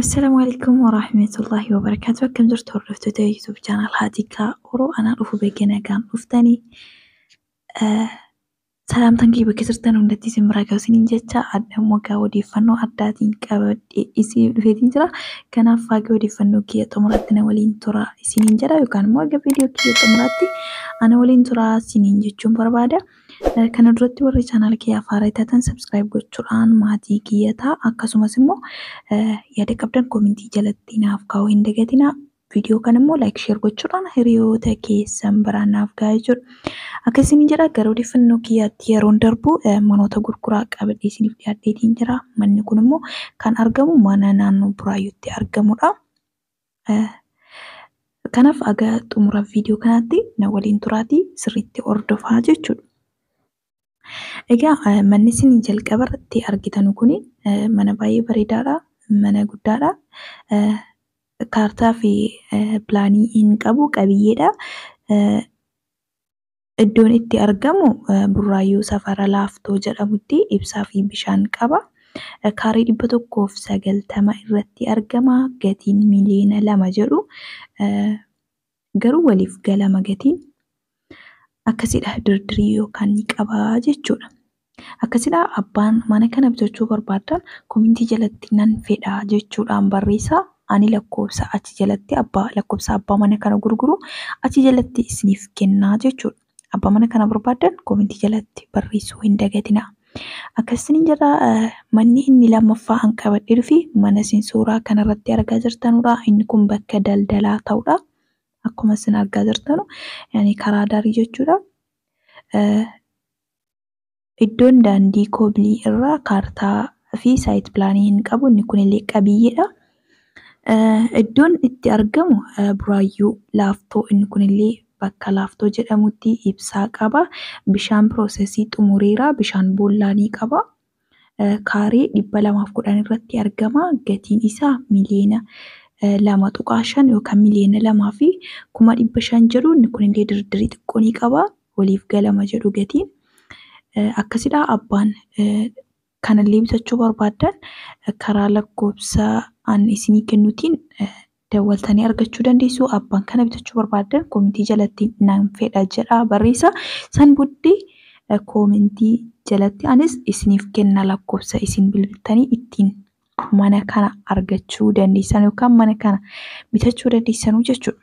Assalaamu alaikum warahmatullahi wabarakatuh. Akkam jirtu hordoftoota YouTube channel Haatikaa Oro anaa dhufu beekee nagaan dhuftanii. Salaamtan kee bakka jirtan hundatti isin biraa gahu isiniin jecha adda immoo gaa odeeffannoo addaatiin qabadhee isin dhufeetiin jira. Kanaaf faagee odeeffannoo kiyya xumuraatti na waliin tura isiniin jedha yookaan immoo aga viidiyoo kiyya xumuraatti ana waliin tura isiniin jechuun barbaada. Eh, Kana duratti warri chaanaala kiyya afaaraa taatan sabskiraayib gochuudhaan maatii kiyya ta'a akkasumas immoo eh, yaada qabdan koomintii jalatti naaf kaa'uu hin dagatinaa. Viidiyoo kana immoo like share gochuudhaan hiriyoota keessan biraan naaf gahaa jechuudha. Akka isin jedha gara odeeffannoo kiyyaatti yeroon darbu manoota gurguraa qabadhee isiniif dhiyaadheetiin jira. Manni kun immoo kan argamu mana naannoo Buraayyuutti argamudha. Kanaaf aga xumura viidiyoo kanaatti na waliin turaatii sirriitti hordofaa jechuudha. Egaa eh, manni isin jalqaba irratti argitanu kun eh, mana baay'ee bareedaadha, mana guddaadha. Eh, Kaartaa fi eh, pilaanii hin qabu, qabiyyeedha. Eh, Iddoon itti argamu eh, Burraayyuu safara Laaftoo jedhamutti ibsaa fi bishaan qaba. Eh, Kaarii dhibba tokkoof sagaltama irratti argama. Gatiin miliyoona lama jedhu. Eh, Garuu waliif galama gatiin akkasidha dirdirii yookaan ni qabaa jechuudha. Akkasidha abbaan mana kana bitachuu barbaaddan komintii jalatti nan fedha jechuudhaan barreessaa ani lakkoofsa achi jalatti abbaa lakkoofsa abbaa mana kana gurguru achi jalatti isiniif kennaa jechuudha. Abbaa mana kana barbaaddan komentii jalatti barreessuu hin dagatinaa. Akkasiin jedha manni inni lammaffaa an qabadhee dhufi mana isin suuraa kanarratti argaa jirtanudha. Inni kun bakka daldalaa ta'udha. Akkuma isin argaa jirtanu yani karaa darii jechuudha. Iddoon daandii koobilii irraa kaartaa fi saayit pilaanii hin qabu. Inni kunillee qabiyyeedha. Iddoon itti argamu buraayyuu laaftoo inni kunillee bakka laaftoo jedhamutti ibsaa qaba. Bishaan piroosesii xumureera. Bishaan boollaa ni qaba. Kaaree dhibba lamaaf kudhan irratti argama. Gatiin isaa miliyoona lama tuqaa shan yookaan miliyoona lamaa fi kuma dhibba shan jedhu inni kunillee dirdirii xiqqoo ni qaba. waliif galama jedhu gatiin. Akkasidhaa abbaan kanallee bitachuu barbaaddan karaa lakkoofsa an isinii kennutiin dawwaltanii argachuu dandeessu. Abbaan kana bitachuu barbaaddan koomentii jalatti nan fedha jedha barreessa. San booddee koomentii jalatti anis isiniif kenna lakkoofsa isin bilbiltanii ittiin mana kana argachuu dandeessan yookaan mana kana bitachuu dandeessanuu jechuudha.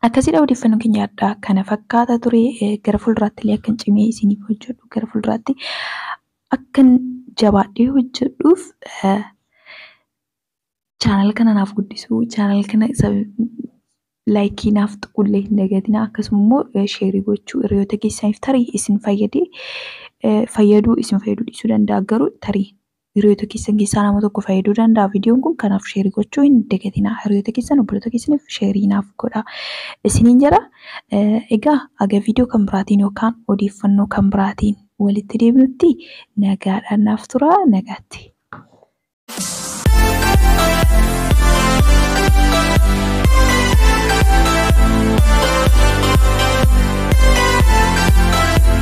Akkasidha odeeffannoon keenya addaa kana fakkaata ture gara fuulduraatti illee akkan cimee isiniif hojjedhu gara fuulduraatti akkan jabaadhee hojjedhuuf chaanal kana naaf guddisuu chaanal kana laayikii naaf tuqullee hin dagatinaa akkasuma immoo sheerii gochuu hiriyoota keessaniif tarii isin fayyadee fayyaduu isin fayyaduu dhiisuu danda'a garuu tarii hiriyoota keessan keessaa nama tokko fayyaduu danda'a viidiyoon kun kanaaf sheerii gochuu hin dagatinaa hiriyoota keessan obboloota keessaniif sheerii naaf godha isiniin jedha egaa aga viidiyoo kan biraatiin yookaan odeeffannoo kan biraatiin walitti deebinutti nagaadhaan naaf tura nagaatti.